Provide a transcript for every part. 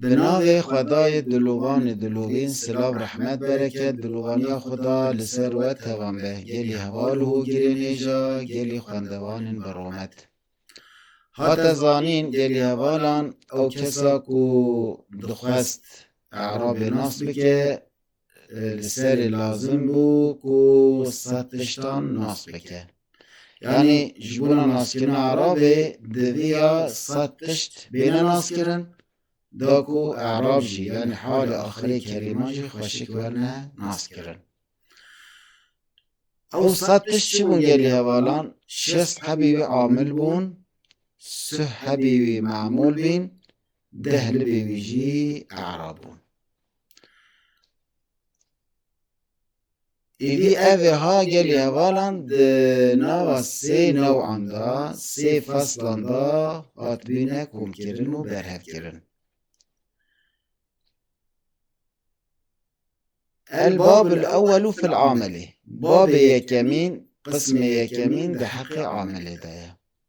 Di navê Xwedayê Diloganê Dilogên Silav Rehmet Bereket Dilogania xwe da li ser we tevan be gelî heval û hogirênêja gelî xwendevanên bi romet. Hate zanîn gelî hevalan ew kesa ku dixwest erabê nas bike li serê lazim bû ku sed tiştan nas bike. Yanî ji bona naskirina Erabê diviya sed tişt bêne naskirin da ku Erab jî yanî halê axirê Kerîman jî xweşik werne naskirin. Ew sed tişt çi bûn gelî hevalan şest hebî wî amil bûn, suh hebî wî memûl bîn, deh libî wî jî Erab bûn. Êdî ev ê ha gelê hevalan di nava sê newan de, sê feslan de hatibîne komkirin û berhevkirin. El bab el ewelû fil amelê. Babê yekemîn, qismê yekemîn di heqê amelê de ye.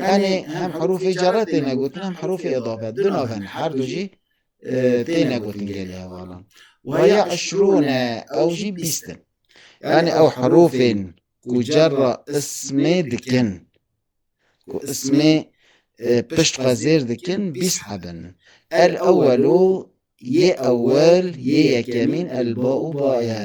Yani hem herûfê cerre têne gotin hem herûfê edafe du navên her du jî têne gotin gelê hevalan weya eşrûne ew jî bîst in yani ew herûfên ku cerra ismê dikin ku ismê pişt xwe zêr dikin bîst hebin el ewelû yê ewel yê yekemîn el ba û baye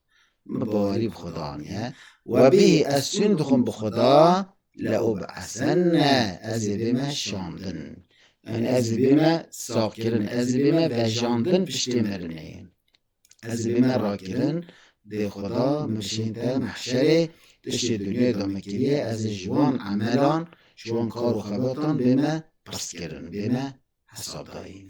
Min bawerî bi Xweda aniye. Webî ez sûn dixwim bi Xweda le û bi Esen ne ez ê bême şandin. Yanî ez ê bême saxkirin, ez ê bême vejandin piştê mirinê. Ez ê bême rakirin dê Xweda min bişînte mehşerê tu şê dinyayê de min kiriye ez ê ji wan emelan, ji wan kar û xebatan bême pirs kirin, bême hesabdayîn.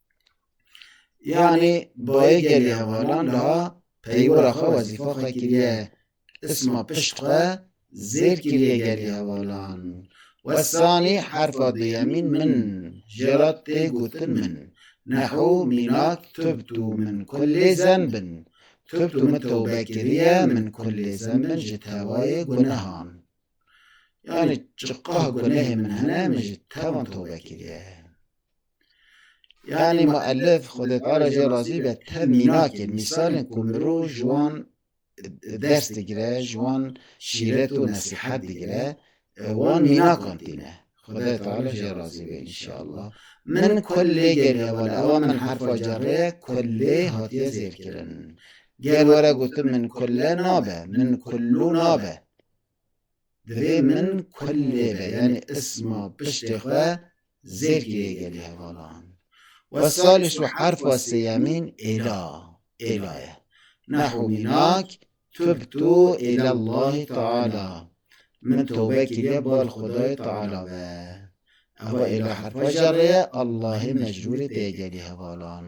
Yani bayê gelê hevalan da peywira xwe wezîfa xwe kiriye. Isma pişt xwe zêr kiriye gelê hevalan. Wesanî herfa duyemîn min jê re tê gotin min. Nehu mînak tubtu min kulê zenbin. Tubtu min tewbe kiriye min kulê zenbin ji tewayê gunehan. Yani çiqah gunehê min hene min ji tevan tewbe kiriye. Yani muellif Xwedê Teala jê razî be te mînakê mîsalên ku mirov ji wan ders digire, ji wan şîret û nesîhet digire, wan mînakan tîne. Xwedê Teala jê razî be înşeallah. Min kullê gerî hevalê ewa min herfa cerê ye kullê hatiye zêrkirin. Ger were gotin min kulle nabe, min kullu nabe. Divê min kulê ve yanî isma piştê xwe zêkî yê gelî hevalan. We salê şû herfa sêyemîn êla, êla ye. Nahû mînak, Tubtu îla Llahî Teala, Min tobe kiriye bar Xwedayê Teala ve. Eva êla herfa jarê ye, Ellahê mecrûrê tê gelî hevalan.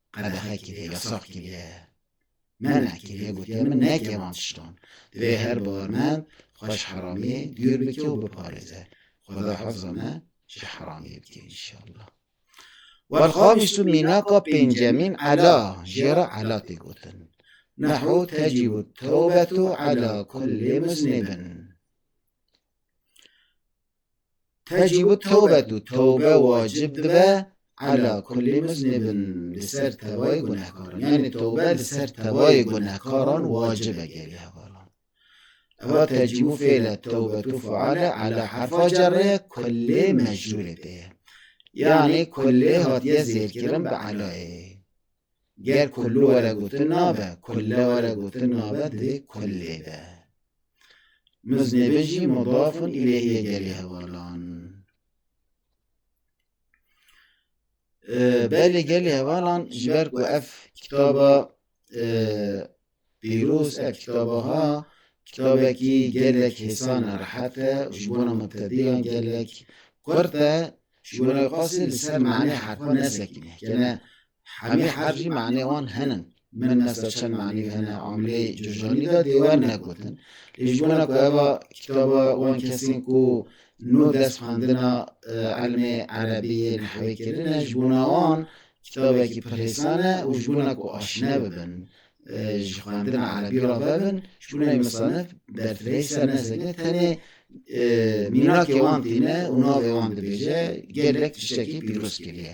Qedexe kiriye, yasak kiriye, mena kiriye, gotiye min neke van tiştan. Divê her bawermend xwe ji heramiyê dûr bike û biparêze. Xweda hifza me ji heramiyê bike înşallah. Welxamis û mînaka pêncemîn ela, jê re ela tê gotin. Nehu tecîbu tewbetu ela kullî muznîbin. Te jî got tewbet û tewbe wacib dibe ala kulî muznibin li ser tevayê gunehkaran. Yanî tewbe li ser tevayê gunehkaran wacib e gelê hevalan. Eva tecîbû fêle tewbetû faale ala herfa cerê kulê mecrûrê tê ye. Yanî kulê hatiye zêrkirin bi elayê. Ger kulû were gotin nabe, kule were gotin nabe divê kulê be. Mız nebejî mudafun ileyhê gelê hevalan. Belê gelê hevalan ji ber ku ev kitaba pîroz ev kitaba ha kitabekî gelek hêsan e rehet e û ji bona mubtedîyan gelek kurt e ji bona xwestin li ser manê herfan nesekîne. Kene Hemî herf jî manê wan henin. Min ne ser çend manî hene amilê Cojanî de dê we negotin. Lê ji bona ku eva kitaba wan kesên ku nû dest xwendina elmê Erebî yê nehwê kirine ji bona wan kitabekî pir hêsan e û ji bona ku aşîne bibin ji xwendina Erebî re vebin ji bo navê misanif berfirehî ser nesekine tenê mînakê wan tîne û navê wan dibêje gelek tiştekî pîroz kiriye.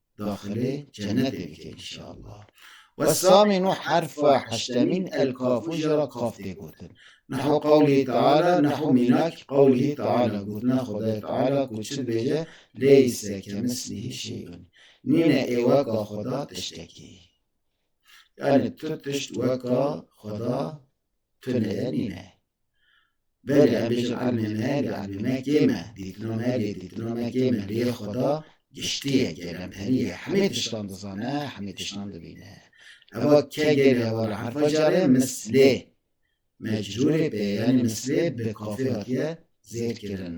daxilê cenetê bike inşallah. West Samî nû herfa heştemîn el kafu jî ra kaf tê gotin. Neho qewlî Teala neho mînakî qewlî Teala gotina Xwedayê Teala ku çi dibêje lêyî se kemi silîhî şêy binî. Nîne ê weka Xweda tiştekî. Yanî tu tişt weka Xweda Tuneye nîne. Belê em bêjin elmê me lê elmê me kê me, dîtina me lê dîtina me kê me lê xweda giştîye gelmperîye hemê tiştan dizane hemê tiştan dibîne. Eva ke gelê hewa li herfa carê mislê mecrûrê pê yanî mislê bi kafê hatîye zêdkirin.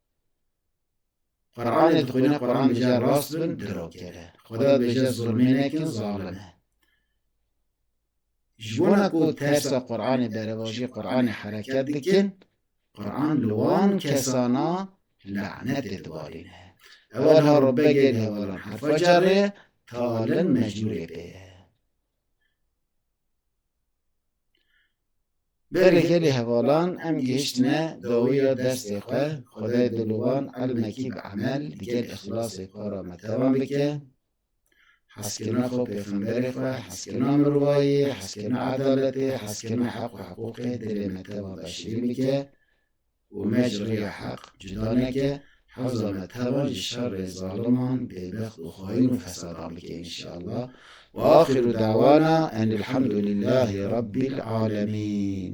Quranê dixwîne Quran bêje rast bin girokere. Xweda bêje zulmê nekin zalim e. Ji bona ku tersa Quranê berevajî Quranê hereket dikin, Quran li wan kesana lanetê dibarîne. Ewelha rûbegê li hevalan herfa carê, talin mecnûrê pê ye. Berê gelê hevalan em gihiştine dawiya destê xwe, xwedê dilovan elmekî bi emel di gel îxlasê xwe re metevan bike, heskirina xwe pêxemberê xwe, heskirina mirovayî, heskirina edaletê, heskirina heq û hiqûqê dilê me tevan daşirîn bike. Û me ji rêya heq cuda neke, hewza me teva ji şerê zaliman, bêbext û xaîn û fesadan bike înşeallah. Wa axîru dawana enilhamdulîllahî rabbîl alemîn.